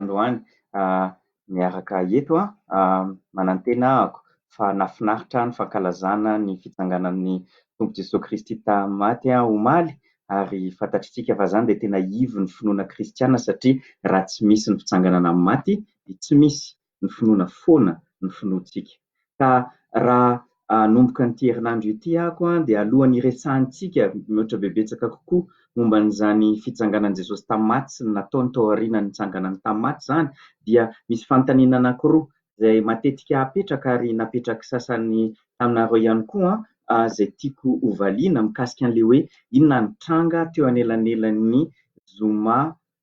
androany miaraka eto a, manantena aho fa nafinaritra ny fankalazana ny fitsanganan'ny Tompo Jesoa Kristy tamin'ny maty omaly ary fantatritsika fa zany dia tena ivon'ny finoana kristiana satria raha tsy misy ny fitsanganana amin'ny maty dia tsy misy ny finoana foana ny finoantsika. Ka raha hanomboka an'ity herinandro ity ako dia alohan'ny hiresahantsika mihoatra bebetsaka kokoa momba an'izany fitsanganan'i Jesosy tamin'ny maty sy ny nataony tao aorianan'ny nitsanganany tamin'ny maty izany dia misy fanontaniana anankiroa izay matetika apetraka ary napetrak'i sasany taminareo ihany koa izay tiako ho valiana mikasika an'ilay hoe inona ny tranga teo anelanelan'ny zoma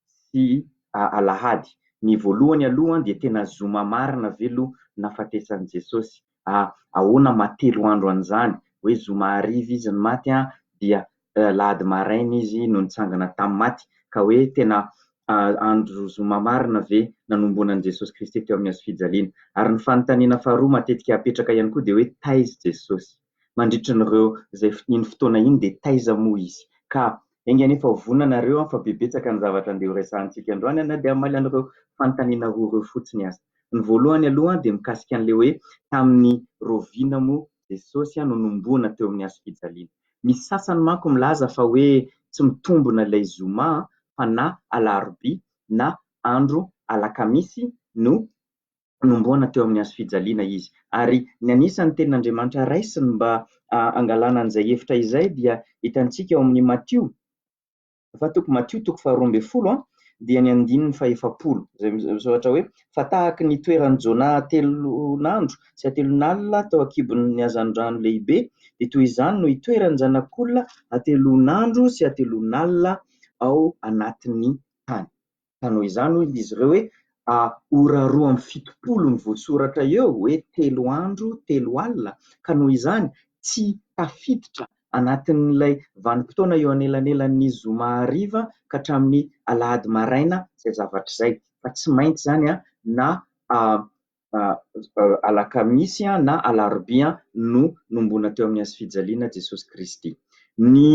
sy alahady. Ny voalohany aloha dia tena zoma marina ve aloha nahafatesan'i Jesosy? Ahoana maha telo andro an'izany? Hoe zoma hariva izy no maty dia alahady maraina izy no nitsangana tamin'ny maty ka hoe tena andro zoma marina ve nanombonan'i Jesosy Kristy teo amin'ny hazo fijaliana? Ary ny fanontaniana faharoa matetika apetraka ihany koa dia hoe taiza i Jesosy? mandritra an'ireo izay iny fotoana iny dia taiza moa izy ka enga anie fa vonona nareo an fa be betsaka ny zavatra andeha ho resahantsika androany na dia hamaly an'ireo fanontaniana roa ireo fotsiny aza ny voalohany aloha dia mikasika an'ilay hoe tamin'ny roviana moa Jesosy no nomboana teo amin'ny hazo fijaliana misy sasany manko milaza fa hoe tsy mitombona ilay zoma fa na alarobia na andro alakamisy no nomboana teo amin'ny hazofijaliana izy. Ary ny anisan'ny Tenin'Andriamanitra raisiny mba hangalana an'izay hevitra izay dia hitantsika ao amin'ny Matio, fa toko Matio toko faharoa ambin'ny folo an, dia ny andininy fahefapolo, izay misoratra hoe, Fa tahaka ny toeran'i Jona hatelon'andro sy hatelon'alina tao an-kibon'ny hazandrano lehibe, dia toy izany no hitoeran'ny Zanak'olona hatelon'andro sy hatelon'alina ao anatin'ny tany. Ka noho izany hoy izy ireo hoe ora roa amby fitopolo no voasoratra eo hoe telo andro telo alina ka noho izany tsy tafiditra anatin'ilay vanim-potoana eo anelanelan'ny zoma hariva ka hatramin'ny alahady maraina izay zavatra izay fa tsy maintsy izany na alakamisy na alarobia no nombona teo amin'ny hazofijaliana Jesosy Kristy. Ny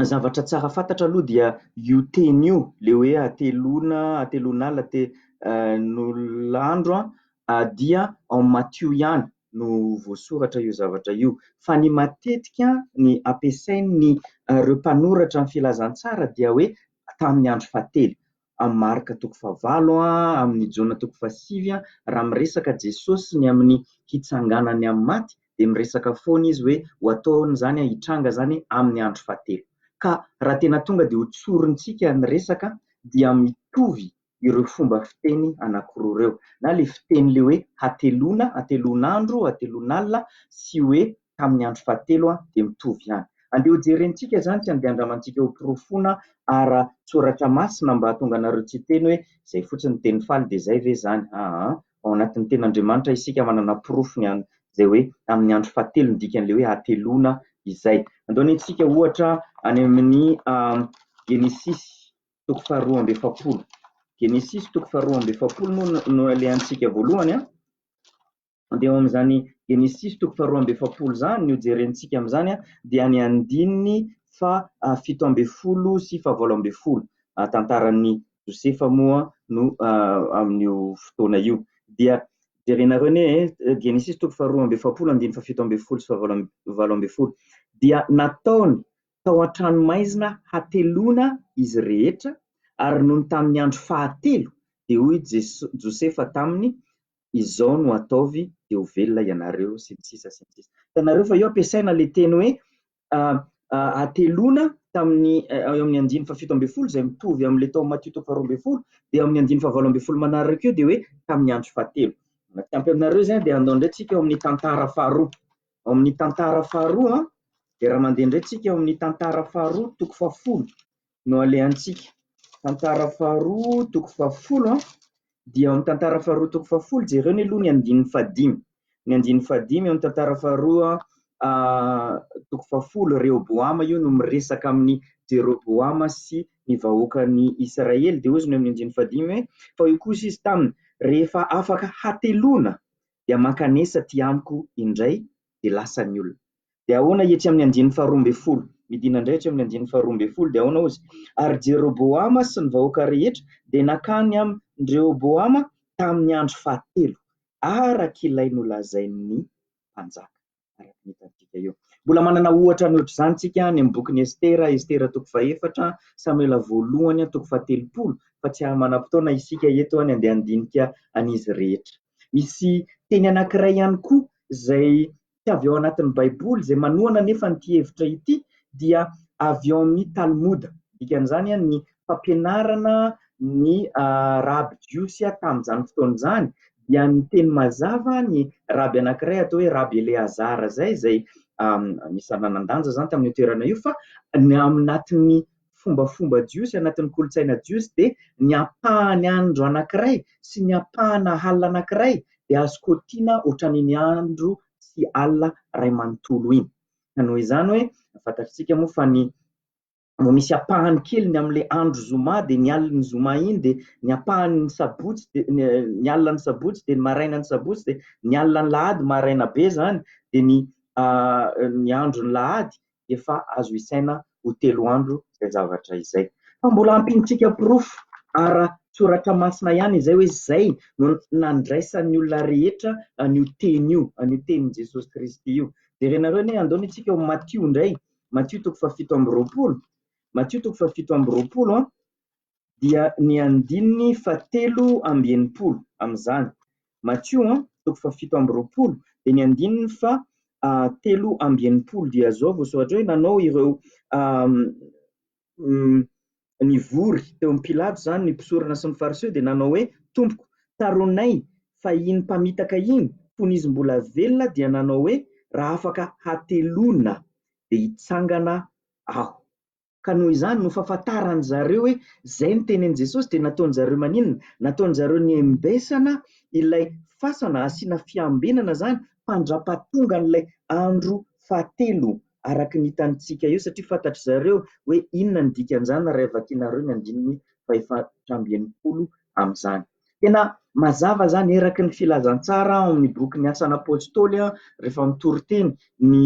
zavatra tsara fantatra aloha dia io teny io, le hoe ateloana, ateloan'ala, ateloan'andro dia ao Matio ihany no voasoratra io zavatra io. Fa ny matetika ny ampiasain'ireo mpanoratra ny filazantsara dia hoe tamin'ny andro fahatelo. amin'ny Marka toko fahavalo amin'ny Jona toko fahasivy raha miresaka Jesosy ny amin'ny hitsanganany amin'ny maty dia miresaka foana izy hoe ho ataony izany hitranga izany amin'ny andro fahatelo ka raha tena tonga dia ho tsorintsika ny resaka dia mitovy ireo fomba fiteny anakiroa ireo na ilay fiteny ilay hoe hateloana, hateloan'andro, hateloan'alina sy hoe tamin'ny andro fahatelo dia mitovy ihany. Andeha hojerentsika izany sy andeha handramantsika ho porofoina ara-tsoratra masina mba hahatonga anareo tsy hiteny hoe izay fotsiny ny teny faly dia izay ve izany? Aa! Ao anatin'ny Tenin'Andriamanitra isika manana porofo ny an, izay hoe amin'ny andro fahatelo ny dikan'ilay hoe hateloana izay. Andao nentsika ohatra any amin'ny Genesisy toko faharoa amby efapolo. Genesisy toko faharoa amby efapolo moa no alehantsika voalohany an. Mandeha ao amin'izany Genesisy toko faharoa amby efapolo izany ny hojerentsika amin'izany dia ny andininy faha fito ambin'ny folo sy fahavalo ambin'ny folo. Tantaran'i Josefa moa no amin'io fotoana io. Dia jerenareo ne Genesisy toko faharoa amby efapolo andininy fahafito ambin'ny folo sy fahavalo ambin'ny folo. Dia nataony tao an-tranomaizina hateloana izy rehetra ary nony tamin'ny andro fahatelo dia hoy Josefa taminy izao no ataovy dia ho velona ianareo sy ny sisa sy ny sisa. Hitanareo fa eo ampiasaina ilay teny hoe ateloana tamin'ny eo amin'ny andininy fahafito ambin'ny folo izay mitovy amin'ilay tao Matio toko faharoa ambin'ny folo dia eo amin'ny andininy fahavalo ambin'ny folo manaraka io dia hoe tamin'ny andro fahatelo. Mba tsy ampy aminareo izany dia andao indray tsika ao amin'ny tantara faharoa. Ao amin'ny tantara faharoa dia raha mandeha indray tsika ao amin'ny tantara faharoa toko fahafolo no alehantsika. Tantara faharoa toko fahafolo an, dia ao amin'ny tantara faharoa toko fahafolo, jereo anie aloha ny andininy fahadimy, ny andininy fahadimy ao amin'ny tantara faharoa toko fahafolo, Rehoboama io no miresaka amin'i Jeroboama sy ny vahoakan'i Israely, dia hozy ny amin'ny andininy fahadimy hoe, fa hoy kosa izy taminy, rehefa afaka hateloana dia mankanesa aty amiko indray dia lasa ny olona. Dia ahoana etsy amin'ny andininy faharoa ambin'ny folo? Midina indray etsy amin'ny andininy faharoa ambin'ny folo, dia ahoana hozy? Ary Jeroboama sy ny vahoaka rehetra dia nankany amin-dRehoboama tamin'ny andro fahatelo, araka ilay nolazain'ny mpanjaka, araka ny hitantsika eo. Mbola manana ohatra mihoatr'izany isika any amin'ny bokin'i Estera, Estera toko fahefatra, Samoela voalohany toko fahatelopolo, fa tsy ahy manam-potoana isika eto ny andeha handinika an'izy rehetra. Misy teny anankiray ihany koa izay tsy avy ao anatin'ny Baiboly izay manohana anefa an'ity hevitra ity dia avy ao amin'ny Talmoda, dikan'izany ny fampianarana ny raby jiosy tamin'izany fotoana izany, dia niteny mazava ny raby anankiray atao hoe raby Eleazara izay, izay anisan'ny nanan-danja izany tamin'io toerana io fa ny ao anatin'ny fombafomba jiosy, anatin'ny kolontsaina jiosy dia ny ampahany andro anankiray sy ny ampahana alina anankiray dia azo kotiana ohatran'iny andro sy alina iray manontolo iny. Ka noho izany hoe fantatritsika moa fa ny mbo misy ampahany kely ny amin'ilay andro zoma dia ny alin'ny zoma iny dia ny ampahany ny sabotsy dia ny alina ny sabotsy dia ny maraina ny sabotsy dia ny alina ny lahady maraina be zany dia ny ny andro ny lahady efa azo isaina ho telo andro izay zavatra izay. Fa mbola ampiantsika porofo ara-tsoratra masina ihany izay hoe izay no nandraisan'ny olona rehetra an'io teny io, an'io tenin'i Jesosy Kristy io. Jerenareo anie, andao anitsika ao Matio indray, Matio toko fahafito amby roapolo, Matio toko fahafito amby roapolo an. dia ny andininy fahatelo amby enimpolo amin'izany. Matio an, toko fahafito amby roapolo, dia ny andininy fahatelo amby enimpolo, dia izao voasoratra hoe nanao ireo nivory teo amin'i Pilato izany ny mpisorona sy ny Fariseo dia nanao hoe Tompoko, taronay fa iny mpamitaka iny fony izy mbola velona dia nanao hoe raha afaka hateloana dia hitsangana aho. Ka noho izany no fahafantaran-dry zareo hoe izay notenenin'i Jesosy dia nataon-dry zareo maninona? Nataon-dry zareo niembesana ilay fasana asiana fiambenana izany mpandra-pahatonga an'ilay andro fahatelo araka ny hitantsika eo satria fantatry zareo hoe inona ny dikan'izany raha vakinareo ny andininy fahefatrambienimpolo amin'izany. Tena mazava izany eraky ny filazantsara ao amin'ny bokin'ny Asan'ny Apôstôly rehefa mitory teny ny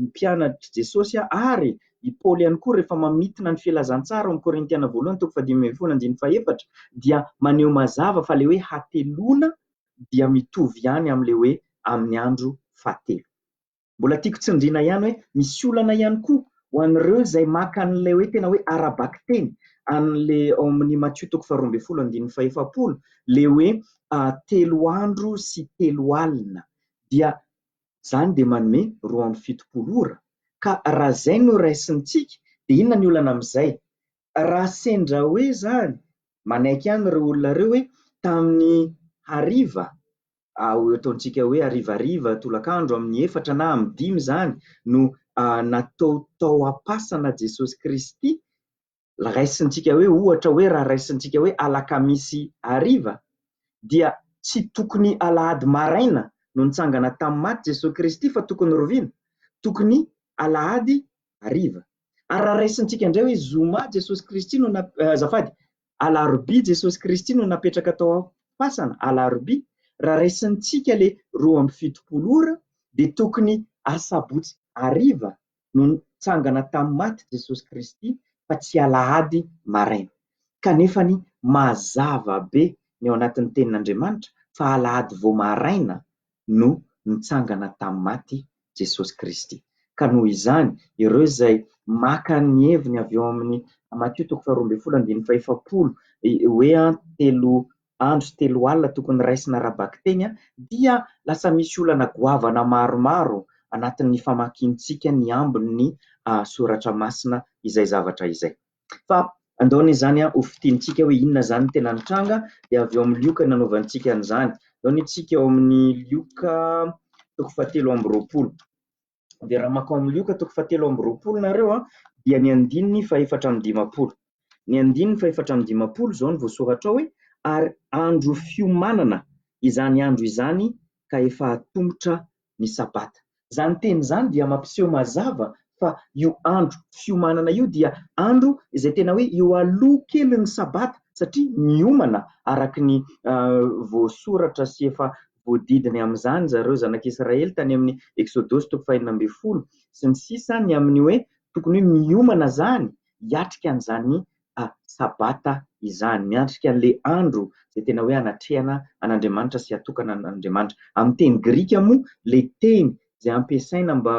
mpianatr'i Jesôsy ary i Paoly ihany koa rehefa mamintina ny filazantsara ao amin'ny Korintiana voalohany toko fahadimy ambin'ny folo andininy fahefatra dia maneho mazava fa ilay hoe hateloana dia mitovy ihany amin'ilay hoe amin'ny andro fahatelo. Mbola tiako tsindriana ihany hoe misy olana ihany koa ho an'ireo izay maka an'ilay hoe tena hoe ara-bakiteny an'le ao amin'ny Matio toko faharoa ambin'ny folo andininy fahefapolo le hoe telo andro sy telo alina dia zany dia manome roa amby fitopolo ora ka raha zay no raisintsika dia inona ny olana amin'izay? Raha sendra hoe zany manaiky ihany ireo olona ireo hoe tamin'ny hariva Ao ataontsika hoe harivariva, tolakandro amin'ny efatra na amin'ny dimy izany no natao tao am-pasana Jesosy Kristy, raisintsika hoe ohatra hoe raha raisintsika hoe alakamisy hariva dia tsy tokony alahady maraina no nitsangana tamin'ny maty Jesosy Kristy fa tokony rovina, tokony alahady hariva. Ary raha raisintsika indray hoe zoma Jesosy Kristy no, azafady, alarobia Jesosy Kristy no napetraka tao am-pasana, alarobia, raha raisintsika ilay roa amby fitopolo ora dia tokony asabotsy hariva no nitsangana tamin'ny maty Jesosy Kristy fa tsy alahady maraina. Kanefany mazava be ny ao anatin'ny tenin'Andriamanitra fa alahady vao maraina no nitsangana tamin'ny maty, Jesosy Kristy. Ka noho izany, ireo izay maka ny heviny avy ao amin'ny Matio toko faharoa ambin'ny folo andininy fahefapolo, hoe telo andro sy telo alina tokony raisina ara-bakiteny, dia lasa misy olana goavana maromaro anatin'ny famakintsika ny ambin'ny soratra masina izay zavatra izay. Fa andao anie izany ho fintinintsika hoe inona izany no tena nitranga, dia avy ao amin'ny Lioka no hanaovantsika an'izany. Andao anie isika ao amin'ny Lioka toko fahatelo amby roapolo. Dia raha makao amin'ny Lioka toko fahatelo amby roapolo nareo dia ny andininy fahefatra amby dimampolo. Ny andininy fahefatra amby dimampolo izao no voasoratra ao hoe ary andro fiomanana izany andro izany ka efa atomotra ny Sabata. Izany teny izany dia mampiseho mazava fa io andro fiomanana io dia andro izay tena hoe eo aloha kelin'ny Sabata satria miomana araka ny voasoratra sy efa voadidiny amin'izany ry zareo zanak'Israely tany amin'ny Eksodosy toko fahenina ambin'ny folo sy ny sisa ny amin'ny hoe tokony hoe miomana izany hiatrika an'izany Sabata izany, miatrika an'ilay andro izay tena hoe hanatrehana an'Andriamanitra sy hatokana an'Andriamanitra. Amin'ny teny grika moa ilay teny izay ampiasaina mba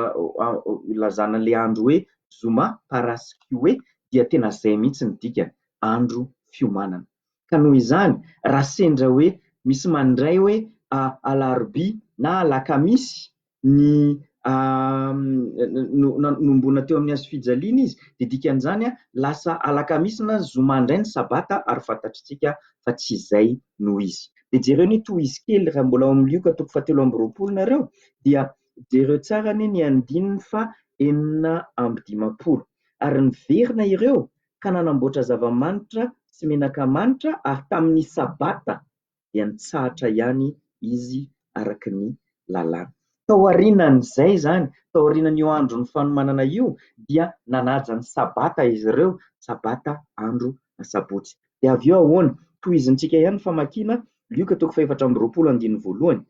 hilazana ilay andro hoe zoma, paraskeuê, dia tena izay mihitsy ny dikany, andro fiomanana. Ka noho izany, raha sendra hoe misy mandray hoe alarobia na alakamisy, ny nanomboana teo amin'ny hazofijaliana izy dia dikan'izany lasa alakamisy na zoma indray ny sabata ary fantatritsika fa tsy izay no izy. Dia jereo anie tohizo kely raha mbola ao amin'ny lioka toko fahatelo amby roapolo nareo dia jereo tsara anie ny andininy faha enina amby dimampolo ary niverina ireo ka nanamboatra zava-manitra sy menaka manitra ary tamin'ny sabata dia nitsahatra ihany izy araka ny lalàna. Tao aorianan'izay izany, tao aorianan'io andron'ny fanomanana io, dia nanaja ny sabata izy ireo, sabata andro asabotsy. Dia avy eo ahoana? Tohizintsika ihany ny famakiana Lioka toko fahefatra amby roapolo andininy voalohany,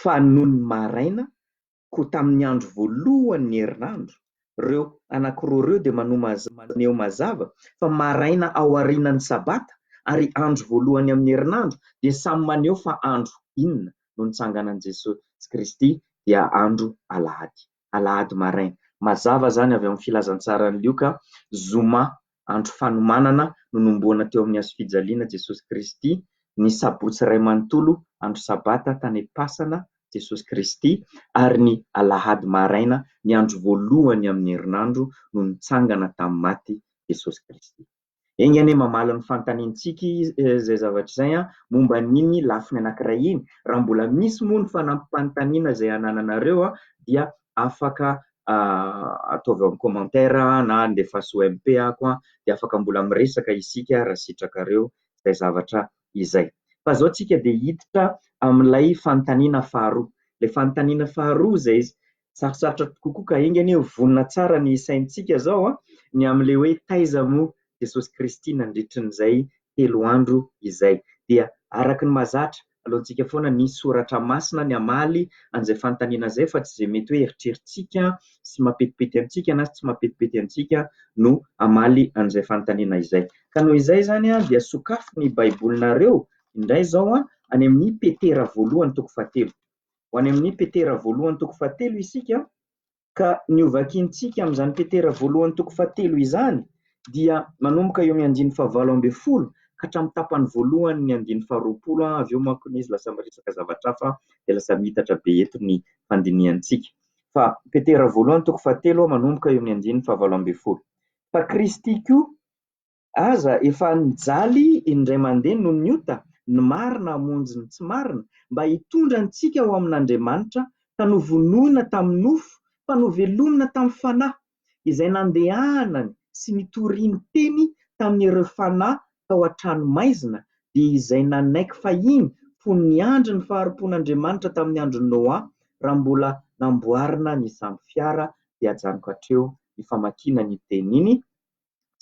fa nony maraina koa tamin'ny andro voalohan'ny herinandro, ireo anankiroa ireo dia maneho mazava fa maraina ao aorianan'ny Sabata ary andro voalohany amin'ny herinandro dia samy maneho fa andro inona no nitsanganan'i Jesosy Kristy dia andro Alahady, Alahady maraina. Mazava izany avy amin'ny Filazantsaran'i Lioka, Zoma Andro Fanomanana nonomboana teo amin'ny Hazofijaliana Jesosy Kristy ny Sabotsy iray manontolo andro Sabata tany Pasana Jesosy Kristy ary ny Alahady maraina ny andro voalohany amin'ny herinandro no nitsangana tamin'ny maty Jesosy Kristy. Enga anie mamaly ny fanontaniantsika izay zavatra izay momba an'iny lafiny anankiray iny. Raha mbola misy moa ny fanampim-panontaniana izay anananareo dia afaka ataovy eo amin'ny commentaire na alefaso MP ako an, dia afaka mbola miresaka isika raha sitrakareo izay zavatra izay. Fa izao tsika dia hiditra amin'ilay fanontaniana faharoa, ilay fanontaniana faharoa izay sarotsarotra kokoa ka enga anie ho vonona tsara ny saintsika izao an, ny amin'ilay hoe taiza moa Jesosy Kristy nandritrin'izay telo andro izay. Dia araka ny mahazatra, aleontsika foana ny soratra masina ny hamaly an'izay fanontaniana izay fa tsy izay mety hoe eritreritsika sy mapetipety antsika na tsy mapetipety antsika no hamaly an'izay fanontaniana izay. Ka noho izay izany dia sokafy ny Baibolinareo indray izao any amin'ny Petera voalohany toko fahatelo. Ho any amin'ny Petera voalohany toko fahatelo isika. Ka ny hovakintsika amin'izany Petera voalohany toko fahatelo izany dia manomboka eo amin'ny andininy fahavalo ambin'ny folo ka hatramin'ny tapany voalohan'ny andininy faharoapolo an, avy eo manko anie izy lasa miresaka zavatra hafa dia lasa miitatra be eto ny fandinihantsika. Fa Petera voalohany toko fahatelo manomboka eo amin'ny andininy fahavalo ambin'ny folo. Fa Kristy koa Aza efa nijaly indray mandeha noho ny ota, ny marina hamonjy ny tsy marina, mba hitondra antsika ho amin'Andriamanitra, ka novonoina tamin'ny nofo, fa novelomina tamin'ny Fanahy, izay nandehanany sy nitoriany teny tamin'ireo fanahy tao an-tranomaizina, dia izay nanaiky fahiny fony niandry ny fahari-pon'Andriamanitra tamin'ny andron'i Noa, raha mbola namboarina ny sambo-fiara, dia ajanoko hatreo ny famakiana an'iny tenin'iny,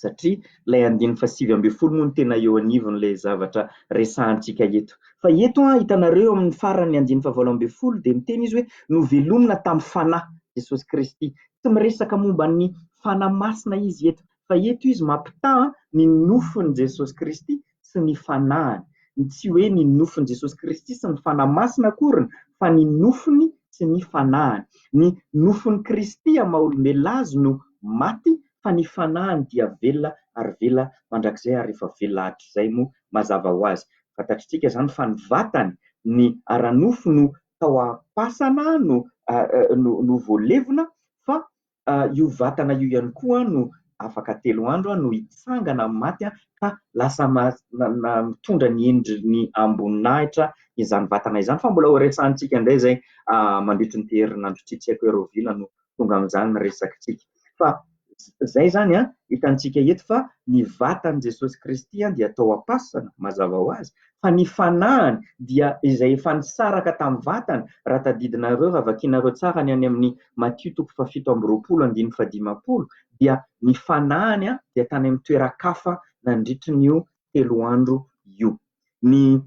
satria ilay andininy fahasivy ambin'ny folo moa no tena eo anivon'ilay zavatra resahantsika eto. Fa eto an, hitanareo eo amin'ny faran'ny andininy fahavalo ambin'ny folo dia miteny izy hoe novelomina tamin'ny fanahy Jesosy Kristy. Tsy miresaka momba ny fanahy masina izy eto fa eto izy mampitaha ny nofin'i Jesosy Kristy sy ny fanahiny, ny tsy hoe ny nofon'i Jesosy Kristy sy ny Fanahy Masina akoriny fa ny nofony sy ny fanahiny. Ny nofon'i Kristy amin'ny maha olombelona azy no maty fa ny fanahiny dia velona ary velona mandrakizay ary rehefa velona hatrizay moa mazava ho azy fantatritsika izany fa ny vatany, ny ara-nofo no tao am-pasana no voalevona fa io vatana io ihany koa no afaka telo andro no hitsangana amin'ny maty ka lasa mitondra ny endriny amboninahitra izany vatana izany. Fa mbola horesahantsika indray izay mandritry ity herinandro ity, tsy haiko hoe rahovina no tonga amin'izany ny resakintsika. Fa izay izany hitantsika eto fa ny vatan'i Jesosy Kristy dia tao am-pasana mazava ho azy fa ny fanahiny dia izay efa nisaraka tamin'ny vatany, raha tadidinareo, raha vakianareo tsara ny any amin'ny Matio toko fahafito amby roapolo andininy fahadimampolo, dia ny fanahiny dia tany amin'ny toeran-kafa nandritry ny io telo andro io. Ny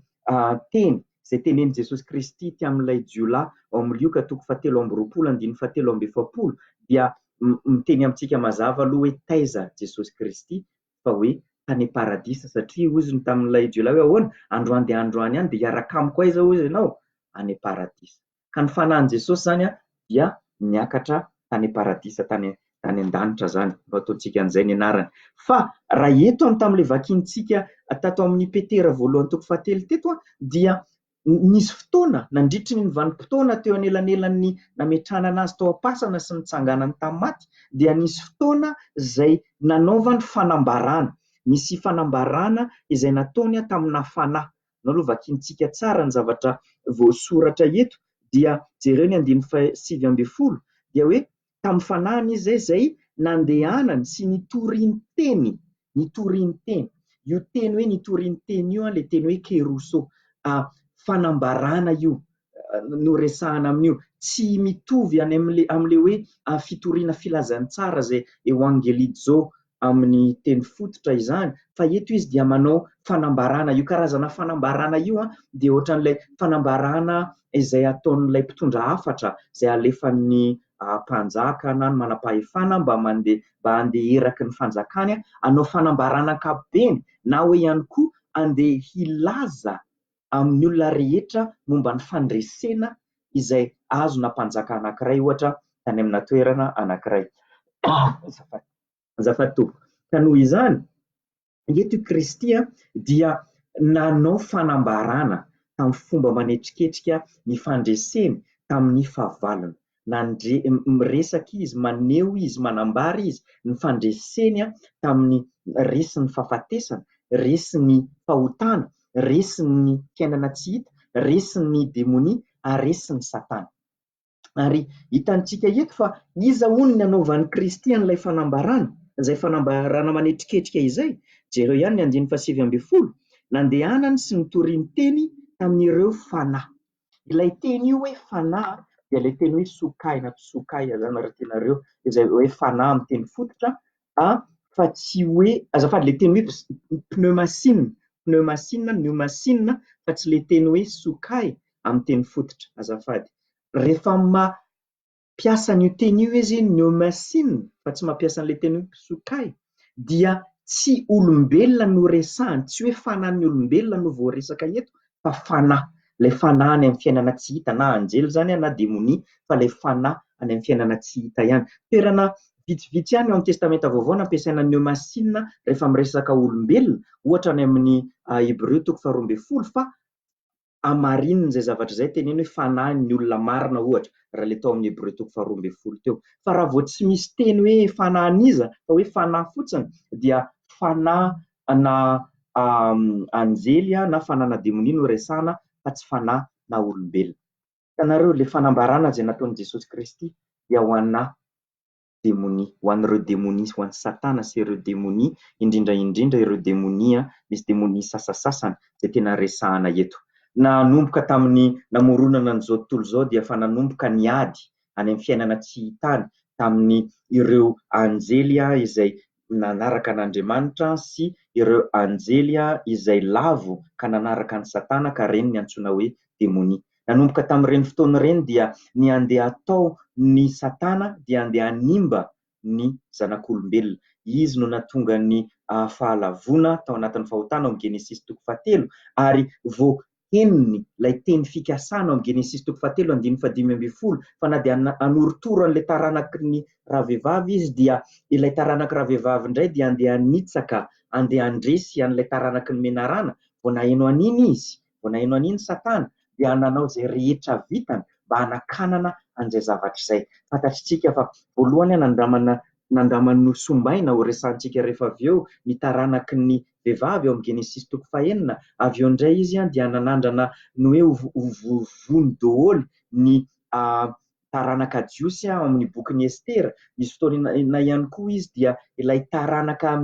teny izay tenenin'i Jesosy Kristy ity amin'ilay jiolahy ao amin'ny Lioka toko fahatelo amby roapolo andininy fahatelo amby efapolo dia miteny amintsika mazava aloha hoe taiza Jesosy Kristy fa hoe tany paradisa satria hozy ny tamin'ilay jiolahy hoe ahoana? androany dia androany ihany dia hiaraka amiko aiza hozy ianao? any paradisa ka ny fanahin'i Jesosy izany dia niakatra tany paradisa tany tany an-danitra izany no ataontsika an'izay ny anarany fa raha eto amin'ny tamin'ilay vakintsika tato amin'ny Petera voalohany toko fahatelo teto dia Nisy fotoana, nandritry ny vanim-potoana teo anelanelan'ny nametrahana anazy tao am-pasana sy ny nitsanganany tamin'ny maty, dia nisy fotoana izay nanaovany fanambarana. Nisy fanambarana izay nataony taminà fanahy. Ianao aloha vakiantsika tsara ny zavatra voasoratra eto, dia jereo ny andininy fahasivy ambin'ny folo, dia hoe, tamin'ny fanahiny izy izay nandehanany sy nitoriany teny, nitoriany teny. Io teny hoe nitoriany teny io, ilay teny hoe kerusso, fanambarana io no resahana amin'io. Tsy mitovy any amin'ilay amin'ilay hoe fitoriana filazantsara izay Ewangelii Joe amin'ny teny fototra izany fa eto izy dia manao fanambarana, io karazana fanambarana io dia ohatran'ilay fanambarana izay ataon'ilay mpitondra hafatra izay alefan'ny mpanjaka na ny manam-pahefana mba mandeha mba handeha eraky ny fanjakany hanao fanambarana ankapobeny na hoe ihany koa handeha hilaza amin'ny olona rehetra momba ny fandresena izay azona mpanjaka anankiray ohatra tany amina toerana anankiray. Azafady tompoko. Ka noho izany, eto i Kristy dia nanao fanambarana tamin'ny fomba manetriketrika ny fandreseny tamin'ny fahavalony. nandre miresaka izy, maneho izy, manambara izy ny fandreseny tamin'ny resin'ny fahafatesana, resin'ny fahotana, resin'ny fiainana tsy hita, resin'ny demonia ary resin'i Satana. Ary hitantsika eto fa iza hono ny hanaovan'i Kristy an'ilay fanambarana, izay fanambarana manetriketrika izay? Jereo ihany ny andininy fahasivy ambin'ny folo, Nandehanany sy nitoriany teny tamin'ireo fanahy. Ilay teny io hoe fanahy dia ilay teny hoe sokay na psokay zany raha tianareo izay hoe fanahy amin'ny teny fototra a fa tsy hoe azafady ilay teny hoe pneumasinina pneumasinina pneumasinina fa tsy ilay teny hoe sokay amin'ny teny fototra azafady rehefa ma mpiasa an'io teny io izy, ny Eumensin fa tsy mampiasa an'ilay teny hoe Psukai, dia tsy olombelona no resahiny, tsy hoe fanan'ny olombelona no voaresaka eto fa fanahy, ilay fanahy any amin'ny fiainana tsy hita, na anjely izany na demonia fa ilay fanahy any amin'ny fiainana tsy hita ihany. Toerana vitsivitsy ihany ao amin'ny Testamenta Vaovao no ampiasaina ny Eumensin rehefa miresaka olombelona, ohatra any amin'ny Hebreo toko faharoa ambin'ny folo fa hamarinina izay zavatra izay teneno hoe fanahy ny olona marina ohatra raha ilay tao amin'ny Hebreo toko faharoa ambin'ny folo teo. Fa raha vao tsy misy teny hoe fanahin'iza fa hoe fanahy fotsiny dia fanahy na anjely na fanahina demonia no resahana fa tsy fanahy na olombelona. Hitanareo, ilay fanambarana izay nataon'i Jesosy Kristy dia ho anà. demonia, ho an'ireo demonia sy ho an'i Satana sy ireo demonia, indrindra indrindra ireo demonia, misy demonia sasasasany izay tena resahana eto. Nanomboka tamin'ny namoronana an'izao tontolo izao dia efa nanomboka ny ady any amin'ny fiainana tsy hita any tamin'ny ireo anjely izay nanaraka an'Andriamanitra sy ireo anjely izay lavo ka nanaraka an'i Satana ka ireny no antsoina hoe demonia. Nanomboka tamin'ireny fotoana ireny dia ny andeha atao ny Satana dia andeha hanimba ny zanak'olombelona. Izy no natonga ny fahalavoana tao anatin'ny fahotana ao amin'ny Genesisy toko fahatelo ary vao henony ilay teny fikasana ao amin'ny Genesisy toko fahatelo andininy fahadimy ambin'ny folo fa na dia hanorotoro an'ilay taranaky ny ravehivavy izy dia ilay taranaky ravehivavy indray dia andeha hanitsaka, andeha handresy an'ilay taranaky ny menarana, vao naheno an'iny izy, vao naheno an'iny Satana dia nanao izay rehetra vitany mba hanakanana an'izay zavatra izay. Fantatr'itsika fa voalohany nanondramana Nandraman'ny Nosombaina ho resahantsika rehefa avy eo ny taranaky ny vehivavy ao amin'ny Genesisy toko fahenina, avy eo indray izy dia nanandrana ny hoe ho vono doholy ny taranaka jiosy ao amin'ny bokin'i Estera, nisy fotoana ihany koa izy dia ilay taranaka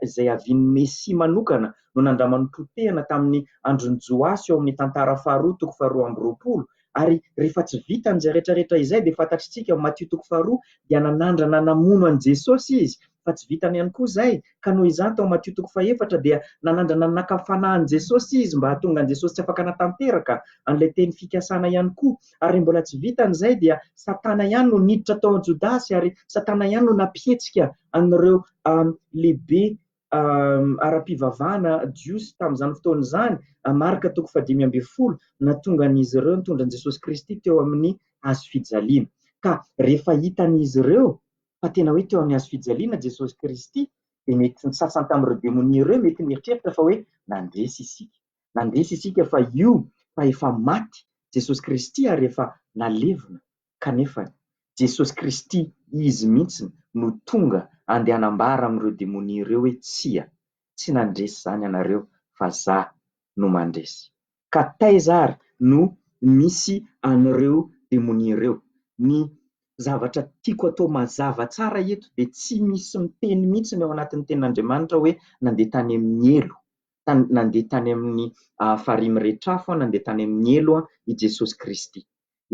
izay havian'ny Mesia manokana no nandraman'ny potehana tamin'ny andron'i Joasy ao amin'ny Tantara faharoa toko faharoa amby roapolo, Ary rehefa tsy vitany izay rehetra rehetra izay dia fantatritsika ao Matio toko faharoa dia nanandrana namono an'i Jesosy izy fa tsy vitany ihany koa izay ka noho izany tao Matio toko fahefatra dia nanandrana naka fanahy an'i Jesosy izy mba hahatonga an'i Jesosy tsy afaka hanatanteraka an'ilay teny fikasana ihany koa ary mbola tsy vitany izay dia Satana ihany no niditra tao Jodasy ary Satana ihany no nampihetsika an'ireo lehibe ara-pivavahana jiosy tamin'izany fotoana izany, Marka toko fahadimy ambin'ny folo, nahatongan'izy ireo nitondra an'i Jesosy Kristy teo amin'ny hazo fijaliana. Ka rehefa hitan'izy ireo fa tena hoe teo amin'ny hazo fijaliana Jesosy Kristy, dia mety ny sasany tamin'ireo demonia ireo mety nieritreritra fa hoe nandresy isika. Nandresy isika fa io fa efa maty Jesosy Kristy ary efa nalevina. Kanefa, Jesosy Kristy Izy mihitsy no tonga andeha hanambara amin'ireo demonia ireo hoe tsia, tsy nandresy izany ianareo fa za no mandresy. Ka taiza ary no misy an'ireo demonia ireo? Ny zavatra tiako atao mazava tsara eto dia tsy misy miteny mihitsy ny ao anatin'ny tenin'Andriamanitra hoe nandeha tany amin'ny helo, nandeha tany amin'ny farihy miretrafo, nandeha tany amin'ny helo i Jesosy Kristy.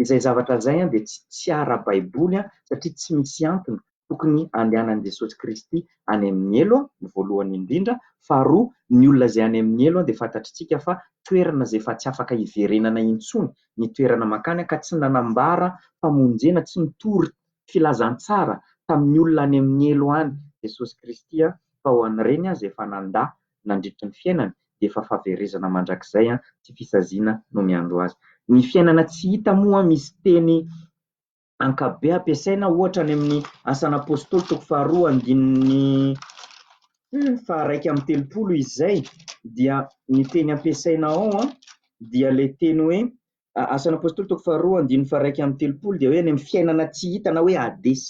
Izay zavatra izay dia tsy ara-baiboly satria tsy misy antony tokony handehanan'i Jesosy Kristy any amin'ny helo, ny voalohany indrindra. Faharoa, ny olona izay any amin'ny helo dia fantatritsika fa toerana izay efa tsy afaka hiverenana intsony ny toerana mankany ka tsy nanambara famonjena, tsy nitory filazantsara tamin'ny olona any amin'ny helo any Jesosy Kristy fa ho an'ireny aza efa nandà nandritry ny fiainany dia efa fahaverezana mandrakizay sy fisaziana no miandry azy. Ny fiainana tsy hita moa misy teny ankapobe ampiasaina ohatra any amin'ny Asan'ny Apostoly toko faharoa andininy faharaika amby telopolo izay dia ny teny ampiasaina ao dia ilay teny hoe A- Asan'ny Apôstôly toko faharoa andininy faharaika amby telopolo dia hoe any amin'ny fiainana tsy hita na hoe Hades.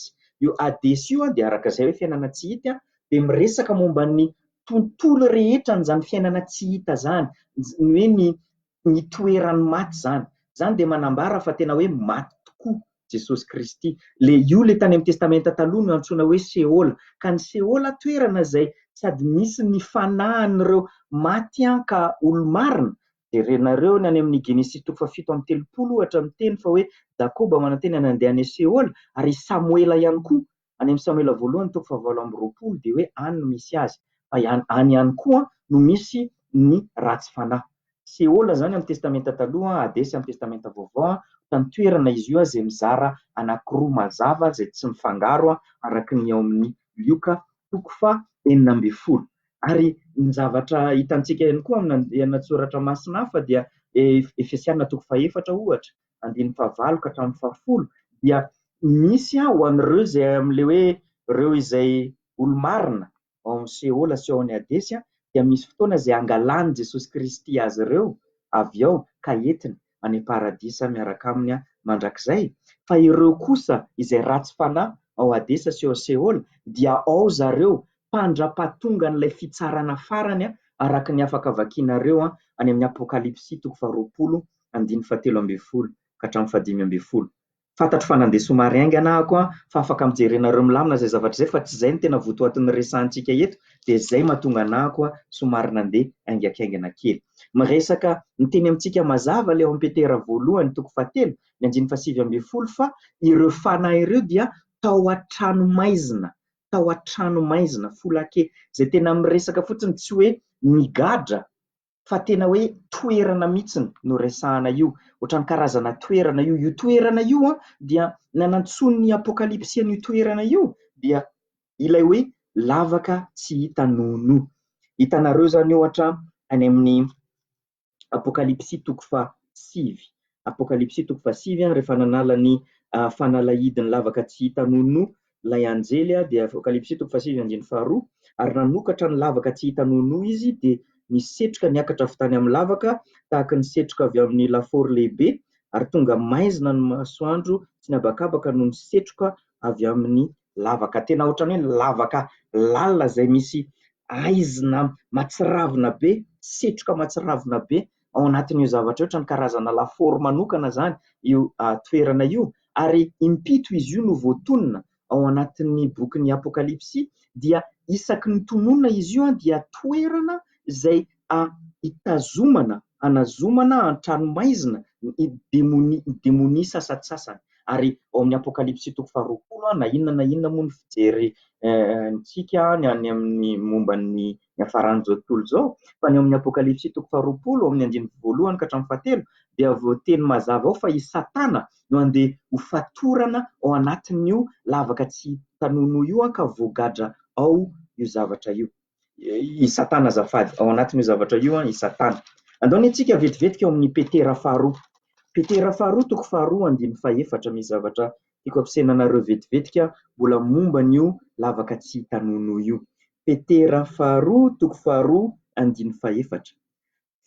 Io Hades io dia araka izay hoe fiainana tsy hita an, dia miresaka momba ny tontolo rehetra an'izany fiainana tsy hita izany, j- ny hoe ny ny toeran'ny maty izany. Izany dia manambara fa tena hoe maty tokoa Jesosy Kristy. Le io le tany amin'ny Testamenta Taloha no antsoina hoe Seôla. Ka ny Seôla toerana izay sady misy ny fanahin'ireo maty an ka olo-marina Jerenareo ny any amin'ny Genesisy toko fahafito amby telopolo ohatra miteny fa hoe Jakoba manantena ny handeha any Seola ary i Samoela ihany koa any amin'ny Samoela voalohany toko fahavalo amby roapolo dia hoe any no misy azy fa ihany any ihany koa no misy ny ratsy fanahy. Seola izany amin'ny Testamenta Taloha, Hadesy amin'ny Testamenta Vaovao, ohatran'ny toerana izy io izay mizara anankiroa mazava izay tsy mifangaro araka ny ao amin'ny Lioka toko faha enina ambin'ny folo. Ary ny zavatra hitantsika ihany koa amina lahatsoratra masina hafa dia Efesiana toko faha efatra ohatra, andininy faha valo ka hatramin'ny faha folo dia misy aho ho an'ireo izay amin'ilay hoe ireo izay olo-marina ao amin'ny Seola sy ao amin'ny Hadesy dia misy fotoana izay angalanin'i Jesosy Kristy azy ireo avy ao ka entiny any Paradisa miaraka Aminy mandrakizay, fa ireo kosa izay ratsy fanahy ao Hadesa sy ao Seôla dia ao zareo mpandra-pahatongan'ilay fitsarana farany, araka ny afaka vakianareo any amin'ny Apôkalipsy toko faharoapolo andininy fahatelo ambin'ny folo ka hatramin'ny fahadimy ambin'ny folo. Fantatro fa nandeha somary haingana aho ko fa afaka mijery anareo milamina izay zavatra izay fa tsy izay no tena votoatin'ny resahantsika eto dia izay mahatonga anah ko somary nandeha haingakaingana kely. Miresaka miteny amintsika mazava leo amin'ny Petera voalohany toko fahatelo ny andininy fahasivy ambin'ny folo fa ireo fanahy ireo dia tao an-trano maizina, tao an-trano maizina, foulake, izay tena miresaka fotsiny tsy hoe nigadra fa tena hoe toerana mihitsy no resahana io, ohatran'ny karazana toerana io. Io toerana io an, dia ny anantsoin'ny Apokalypsy an'io toerana io dia ilay hoe lavaka tsy hita nono. Hitanareo izany ohatra any amin'ny Apokalypsy toko faha sivy. Apokalypsy toko fahasivy, rehefa nanala ny fanalahidiny lavaka tsy hita nonoa ilay anjely, dia Apokalypsy toko fahasivy andininy faharoa, ary nanokatra ny lavaka tsy hita nonoa izy, dia nisy setroka niakatra avy tany amin'ny lavaka tahaka ny setroka avy amin'ny lafaoro lehibe, ary tonga maizina ny masoandro sy ny habakabaka noho ny setroka avy amin'ny lavaka tena ohatran'ny hoe lavaka lalina izay misy haizina matsiravina be, setroka matsiravina be ao anatin'io zavatra io, ohatran'ny karazana lafaoro manokana izany io toerana io. Ary impito izy io no voatonona ao anatin'ny bokin'ny Apokalypsy, dia isaky ny tononina izy io dia toerana izay a hitazomana hanazomana an-tranomaizina ny demonia, ny demonia sasantsasany. Ary ao amin'ny Apokalypsy toko faharoapolo, na inona na inona moa ny fijery ntsika any amin'ny momba ny niafaran'izao tontolo izao, fa ny ao amin'ny Apokalypsy toko faharoapolo, ao amin'ny andininy voalohany ka hatramin'ny fahatelo, dia voateny mazava ao fa i Satana no handeha ho fatorana ao anatin'io lavaka tsy tanono io ka voagadra ao io zavatra io. i Satana azafady, ao anatin'io zavatra io an, i Satana. Andao ny antsika vetivetika ao amin'ny Petera faharoa. Petera faharoa, toko faharoa, andiny fahefatra, misy zavatra tiako ampisaina anareo vetivetika, mbola momba an'io lavaka tsy hita nonoa io. Petera faharoa, toko faharoa, andiny fahefatra.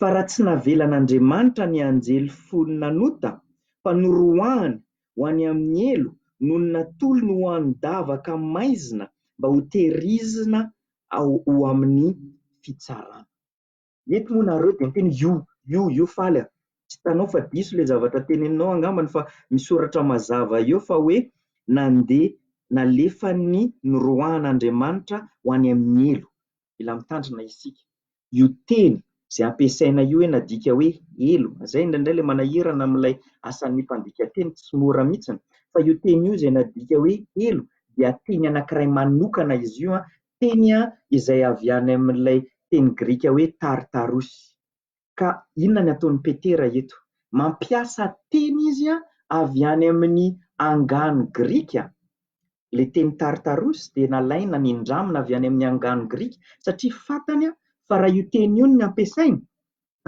Fa raha tsy navelan'Andriamanitra ny anjely folo nanota, fa noroahany ho any amin'ny helo nony natolony ho an-davaka maizina mba ho tehirizina ho amin'ny fitsarana. Mety moa nareo dia miteny io io io faly a! Tsy hitanao fa diso ilay zavatra teneninao angambany fa misoratra mazava eo fa hoe nandeha nalefan'ny noroahan'Andriamanitra ho any amin'ny helo. Mila mitandrina isika. io teny izay ampiasaina io hoe nadika hoe helo, izay indraindray ilay manahirana amin'ilay asan'ny mpandika teny, tsy mora mihitsy, fa io teny io izay nadika hoe helo dia teny anankiray manokana izy io, teny izay avy any amin'ilay teny grika hoe tartarus. Ka inona no ataon'i Petera eto? Mampiasa teny izy avy any amin'ny angano grika Ilay teny Tartarus dia nalaina, nindramina avy any amin'ny angano grika satria fantany fa raha io teny io no ampiasainy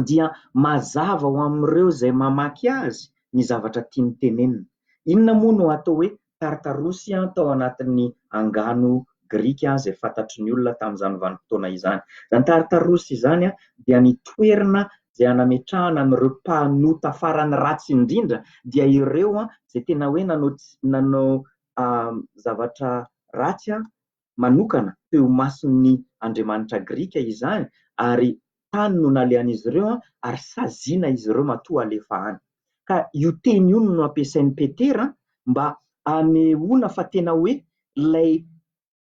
dia mazava ho amin'ireo izay mamaky azy ny zavatra tiany tenenina. Inona moa no atao hoe Tartarus tao anatin'ny angano grika izay fantatry ny olona tamin'izany vanim-potoana izany? Izany Tartarus izany dia ny toerana izay anametrahana an'ireo mpanota farany ratsy indrindra, dia ireo izay tena hoe nanao zavatra ratsy manokana teo imason'ny andriamanitra grika izany ary tany no nalehan'izy ireo ary saziana izy ireo matoa halefa any. Ka io teny io no ampiasain'i Petera mba hanehoana fa tena hoe ilay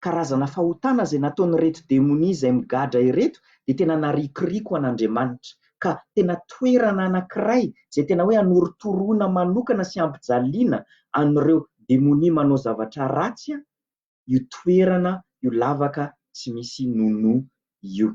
karazana fahotana izay nataon'ireto demonia izay migadra ireto dia tena narikoriko an'Andriamanitra ka tena toerana anankiray izay tena hoe anorotoroana manokana sy ampijaliana an'ireo demonia manao zavatra ratsy io toerana io lavaka tsy misy nono io.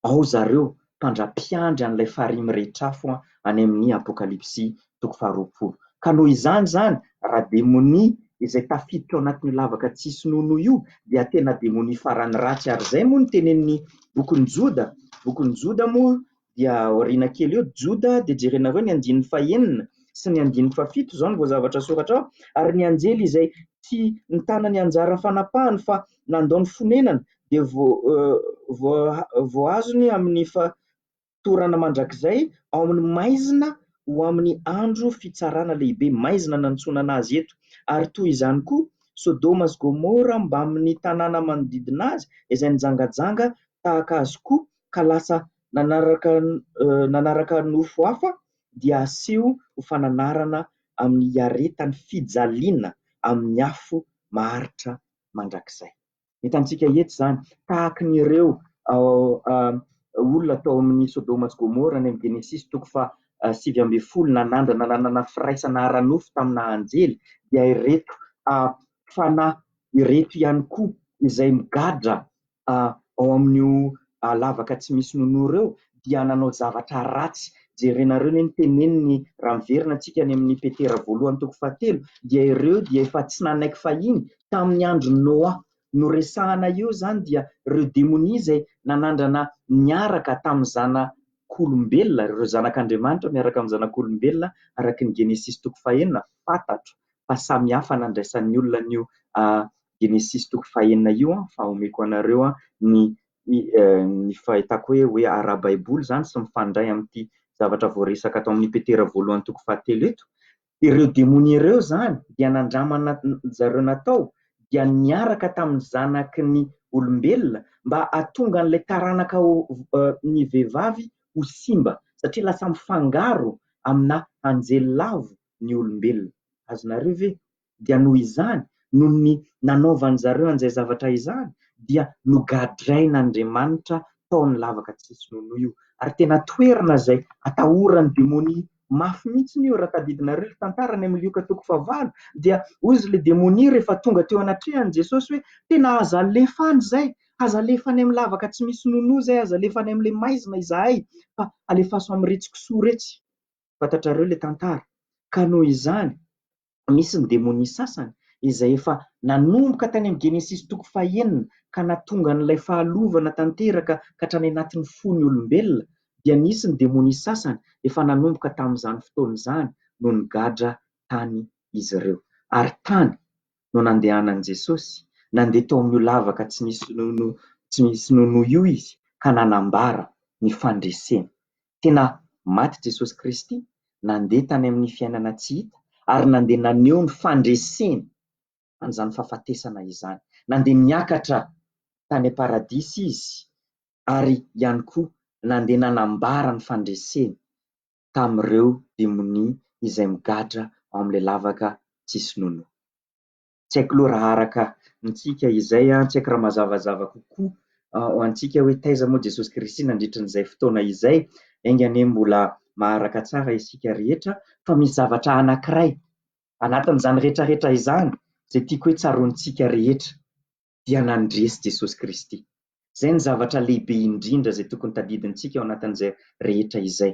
ao zareo mpandra-piandry an'ilay farihy mirehitra afo any amin'ny Apokalypsy toko faharoapolo. Ka noho izany izany, raha demonia izay tafiditra ao anatin'io lavaka tsy hisy nonoa io dia tena demonia farany ratsy ary izay moa no tenenin'ny bokin'i Joda, bokin'i Joda moa dia aoriana kely eo, Joda dia jerenareo ny andininy fahenina sy ny andininy fahafito, izao no voazavatra soratra ao, ary ny anjely izay tsy nitana ny anjara fanapahany fa nandao ny fonenany dia voaazony amin'ny fatorana mandrakizay ao amin'ny maizina ho amin'ny andro fitsarana lehibe, maizina nanontsonana azy eto, ary toy izany koa Sodoma sy Gomora mbamin'ny tanàna manodidina azy izay nijangajanga tahaka azy koa ka lasa nanaraka nofo hafa dia aseho ho fananarana amin'ny hiaretan'ny fijaliana amin'ny afo maharitra mandrakizay. Hitantsika etsy izany, tahaka ny ireo olona tao amin'ny Sodoma sy Gomora any amin'ny Genesisy toko faha sivy ambin'ny folo nanandrana nanana firaisana ara-nofo tamina anjely, dia ireto fanahy ireto ihany koa izay migadra ao amin'io lavaka tsy misy nonoro eo dia nanao zavatra ratsy. Jerenareo anie ny teneniny raha miverina antsika any amin'ny Petera voalohany toko fahatelo dia ireo dia efa tsy nanaiky fahiny tamin'ny andron'i Noa. No resahana eo izany dia ireo demonia izay nanandrana niaraka tamin'ny zanak'olombelona, ireo zanak'Andriamanitra miaraka amin'ny zanak'olombelona araka ny Genesisy toko fahenina, fantatro fa samihafa nandraisan'ny olona an'io Genesisy toko fahenina io fa omeko anareo ny ny fahitako hoe hoe ara-baiboly izany sy mifandray amin'ity zavatra voaresaka ato amin'ny Petera voalohany toko fahatelo eto. Ireo demonia ireo izany dia nandramana zareo natao dia niaraka tamin'ny zanaky ny olombelona mba hahatonga an'ilay taranaka ny vehivavy ho simba satria lasa mifangaro amina anjely lavo ny olombelona. Azonareo ve dia noho izany, noho ny nanaovan'ny zareo an'izay zavatra izany, dia nogadrain'Andriamanitra tao amin'ny lavaka tsy sinonoa io. Ary tena toerana izay atahoran'ny demonia mafy mihitsiny io, raha tadidinareo ilay tantara any amin'ny Lioka toko fahavalo, dia hozy ilay demonia rehefa tonga teo anatrehan'i Jesosy hoe, tena aza alefa any izay, aza alefa any amin'ny lavaka tsy misy sinonoa izay, aza alefa any amin'ilay maizina izahay, fa alefaso amin'iretsy kisoa iretsy. Fantatrareo ilay tantara? Ka noho izany, misy ny demonia sasany izay efa nanomboka tany amin'ny Genesisy toko fahenina ka natonga an'ilay fahalovana tanteraka ka hatrany anatin'ny fon'ny olombelona dia nisy ny demonia sasany efa nanomboka tamin'izany fotoana izany no nigadra tany izy ireo ary tany no nandehanan'i Jesosy nandeha tao amin'io lavaka tsy misy nonoa tsy misy nonoa io izy ka nanambara ny fandreseny Tena maty Jesosy Kristy, nandeha tany amin'ny fiainana tsy hita ary nandeha naneho ny fandreseny an'izany fahafatesana izany. Nandeha niakatra tany am-paradisa Izy ary ihany koa nandeha nanambara ny fandreseny tamin'ireo demonia izay migadra ao amin'ilay lavaka tsisy nonoa. tsy haiko loha raha araka antsika izay an, tsy haiko raha mazavazava kokoa ho antsika hoe taiza moa Jesosy Kristy nandritra an'izay fotoana izay, enga anie mbola maharaka tsara isika rehetra, fa misy zavatra anankiray anatin'izany rehetrarehetra izany izay tiako hoe tsaroantsika rehetra, dia nandresy Jesosy Kristy. Izay no zavatra lehibe indrindra izay tokony tadidintsika ao anatin'izay rehetra izay.